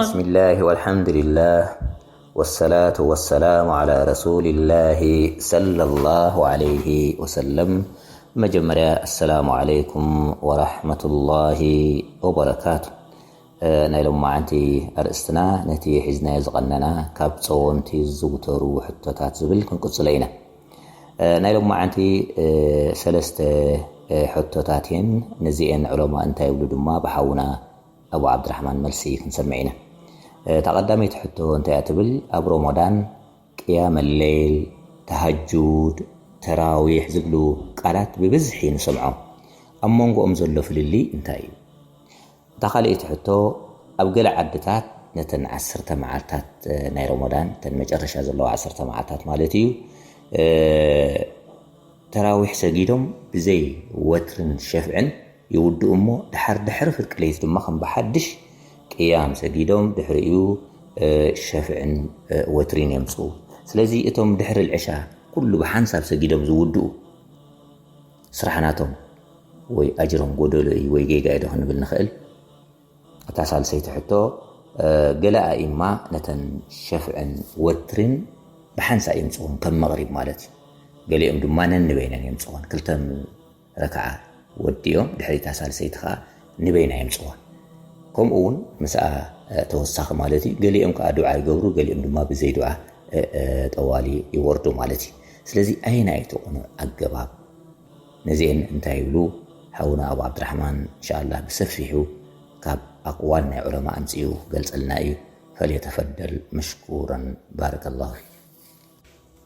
ብስሚላህ ወልሓምዱሊላህ ወሰላቱ ወሰላሙ ዓላ ረሱሊላሂ ሰለላሁ ዓለይሂ ወሰለም ብመጀመርያ ኣሰላሙ ዓለይኩም ወራሕመቱላሂ ወበረካቱ ናይ ሎማዓንቲ ኣርእስትና ነቲ ሒዝናዮ ዝቐነና ካብ ጸወምቲ ዝዝውተሩ ሕቶታት ዝብል ክንቅጽሎ ኢና። ናይ ሎማዓንቲ ሰለስተ ሕቶታት እየን ነዚኤን ዕሎማ እንታይ ይብሉ ድማ ብሓውና ኣቡ ዓብድራሕማን መልሲ ክንሰምዕ ኢና እታ ቀዳመይቲ ሕቶ እንታይ እያ ትብል ኣብ ሮሞዳን ቅያመሌል ተሃጁድ ተራዊሕ ዝብሉ ቃላት ብብዝሒ ንሰምዖም ኣብ መንጎኦም ዘሎ ፍልልይ እንታይ እዩ እታ ካልኣይቲ ሕቶ፣ ኣብ ገለ ዓድታት ነተን ዓሰርተ መዓልታት ናይ ሮሞዳን፣ እተን መጨረሻ ዘለዋ ዓሰርተ መዓልታት ማለት እዩ፣ ተራዊሕ ሰጊዶም ብዘይ ወትርን ሸፍዕን ይውድኡ እሞ ደሓር ድሕሪ ፍርቂ ለይት ድማ ከም ብሓድሽ ቅያም ሰጊዶም ድሕሪኡ ሸፍዕን ወትሪን የምጽኡ። ስለዚ እቶም ድሕሪ ልዕሻ ኩሉ ብሓንሳብ ሰጊዶም ዝውድኡ፣ ስራሕ ናቶም ወይ ኣጅሮም ጎደሎ እዩ ወይ ጌጋ እዩዶ ክንብል ንኽእል? እታ ሳልሰይቲ ሕቶ ገለ ኣኢማ ነተን ሸፍዕን ወትሪን ብሓንሳእ የምጽኹን ከም መቕሪብ ማለት እዩ። ገሊኦም ድማ ነንበይነን የምጽኹን ክልተ ረክዓ ወዲኦም ድሕሪታ ሳልሰይቲ ከኣ ንበይና የምጽዋ ከምኡ ውን ምስኣ ተወሳኺ ማለት እዩ ገሊኦም ከዓ ዱዓ ይገብሩ ገሊኦም ድማ ብዘይ ዱዓ ጠዋሊ ይወርዱ ማለት እዩ ስለዚ ኣየና እዩ ተቕኑ ኣገባብ ነዚአን እንታይ ይብሉ ሓውና ኣብ ዓብድራሕማን እንሻላ ብሰፊሑ ካብ ኣቅዋል ናይ ዑለማ ኣምፅኡ ክገልፀልና እዩ ፈልየተፈደል መሽኩረን ባረከ ላሁ ፊክ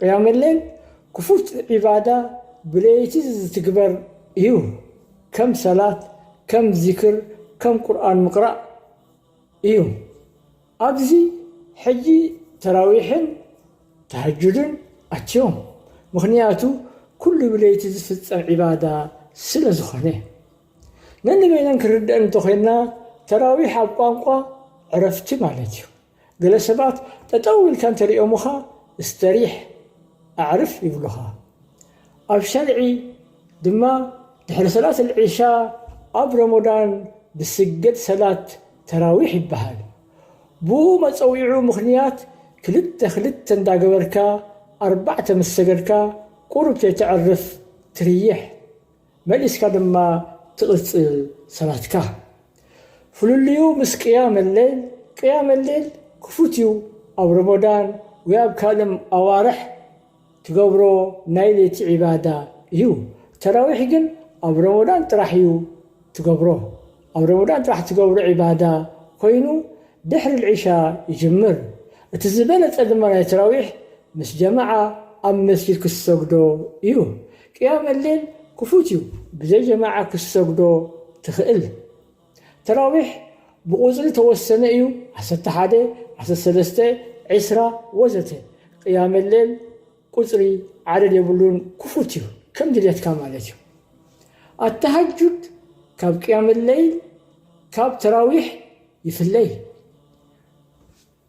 ቅያመሌል ክፉት ዒባዳ ብለይቲ ዝትግበር እዩ ከም ሰላት ከም ዚክር ከም ቁርኣን ምቅራእ እዩ ኣብዚ ሕጂ ተራዊሕን ተሃጁድን ኣትዮም ምኽንያቱ ኩሉ ብለይቲ ዝፍጸም ዒባዳ ስለ ዝኾነ ነንበይነን ክንርደኣን እንተኾይንና ተራዊሕ ኣብ ቋንቋ ዕረፍቲ ማለት እዩ ገለ ሰባት ጠጠው ኢልካ እንተሪኦሙኻ እስተሪሕ፣ ኣዕርፍ፣ ይብሉኻ። ኣብ ሸርዒ ድማ ድሕሪ ሰላት ኣልዒሻ ኣብ ሮሞዳን ዝስገድ ሰላት ተራዊሕ ይበሃል። ብኡ መፀዊዑ ምኽንያት ክልተ ክልተ እንዳገበርካ ኣርባዕተ ምስ ሰገድካ ቁሩብ ተይተዕርፍ ትርይሕ። መሊስካ ድማ ትቕጽል ሰላትካ። ፍልልዩ ምስ ቅያም ሌል፣ ቅያም ሌል ክፉት እዩ ኣብ ሮሞዳን ወይ ኣብ ካልእም ኣዋርሕ ትገብሮ ናይ ለይቲ ዒባዳ እዩ። ተራዊሕ ግን ኣብ ሮሞዳን ጥራሕ እዩ ትገብሮ። ኣብ ሮሞዳን ጥራሕ ትገብሮ ዒባዳ ኮይኑ ድሕሪ ልዒሻ ይጅምር። እቲ ዝበለጸ ድማ ናይ ተራዊሕ ምስ ጀማዓ ኣብ መስጂድ ክትሰግዶ እዩ። ቅያም እሌል ክፉት እዩ ብዘይ ጀማዓ ክትሰግዶ ትክእል ተራዊሕ ብቁፅሪ ተወሰነ እዩ ዓሰርተ ሓደ ዓሰርተ ሰለስተ ዕስራ ወዘተ ቅያም እሌል ቁፅሪ ዓደድ የብሉን ክፉት እዩ ከም ድሌትካ ማለት እዩ ኣታሃጁድ ካብ ቅያም እሌል ካብ ተራዊሕ ይፍለ እዩ።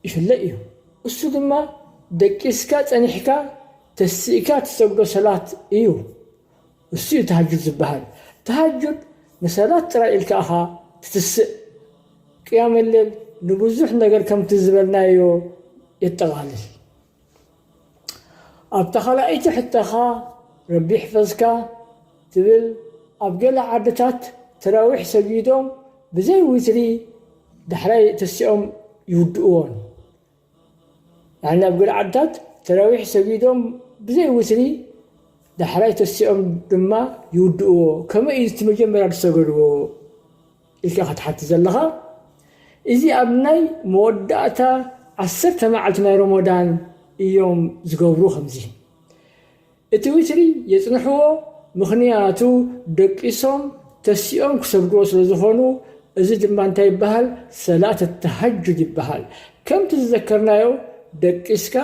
ይፍለ እዩ እሱ ድማ ደቂስካ ጸኒሕካ ተሲእካ ትሰግዶ ሰላት እዩ እሱ እዩ ተሃጁድ ዝባሃል ተሃጁድ ንሰላት ጥራይ ኢልካ እኻ ትትስእ ቅያመለል ንብዙሕ ነገር ከምቲ ዝበልናዮ የጠቓልል። ኣብታ ካልኣይቲ ሕቶኻ ረቢ ይሕፈዝካ ትብል ኣብ ገለ ዓድታት ተራዊሕ ሰጊዶም ብዘይ ዊትሪ ዳሕራይ ተሲኦም ይውድእዎን ያኒ ኣብ ገለ ዓድታት ተራዊሕ ሰጊዶም ብዘይ ዊትሪ ዳሕራይ ተሲኦም ድማ ይውድእዎ ከመይ እዩ እቲ መጀመርያ ዝሰገድዎ ኢልካ ክትሓቲ ዘለኻ እዚ ኣብ ናይ መወዳእታ ዓሰርተ መዓልቲ ናይ ሮሞዳን እዮም ዝገብሩ ከምዚ እቲ ዊትሪ የጽንሕዎ ምኽንያቱ ደቂሶም ተሲኦም ክሰግድዎ ስለ ዝኾኑ እዚ ድማ እንታይ ይበሃል ሰላት ተሃጁድ ይበሃል ከምቲ ዝዘከርናዮ ደቂስካ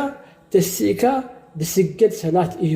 ተሲእካ ዝስገድ ሰላት እዩ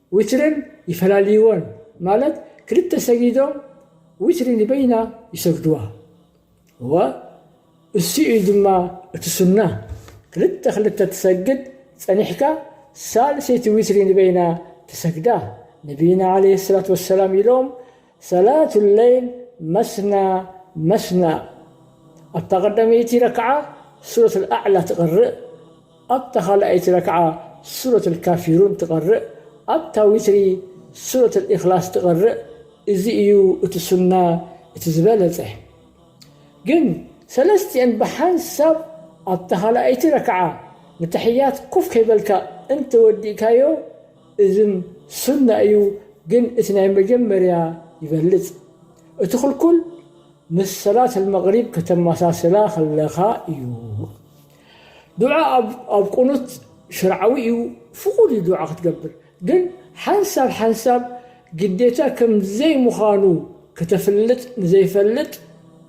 ዊትርን ይፈላልይዎን ማለት ክልተ ሰጊዶም ዊትሪ ንበይና ይሰግድዋ እወ እሱ እዩ ድማ እቲ ሱና ክልተ ክልተ ትሰግድ ጸኒሕካ ሳልሰይቲ ዊትሪ ንበይና ትሰግዳ ነብይና ዓለይሂ ሰላቱ ወሰላም ኢሎም ሰላት ለይል መስና መስና ኣብታ ቀዳመይቲ ረክዓ ሱረት ኣዕላ ትቀርእ ኣብታ ካልኣይቲ ረክዓ ሱረት ካፊሩን ትቀርእ ኣብታ ዊትሪ ሱረት ኢክላስ ትቀርእ እዚ እዩ እቲ ሱና እቲ ዝበለፀ ግን ሰለስቲኤን ብሓንሳብ ኣብታ ካልኣይቲ ረክዓ ንተሕያት ኮፍ ከይበልካ እንተወዲእካዮ እዝም ሱና እዩ ግን እቲ ናይ መጀመርያ ይበልጽ እቲ ክልኩል ምስ ሰላት ኣልመግሪብ ከተመሳስላ ከለካ እዩ ዱዓ ኣብ ኣብ ቁኑት ሽርዓዊ እዩ ፍቁድ እዩ ዱዓ ክትገብር ግን ሓንሳብ ሓንሳብ ግዴታ ከም ዘይምካኑ ከተፍልጥ ንዘይፈልጥ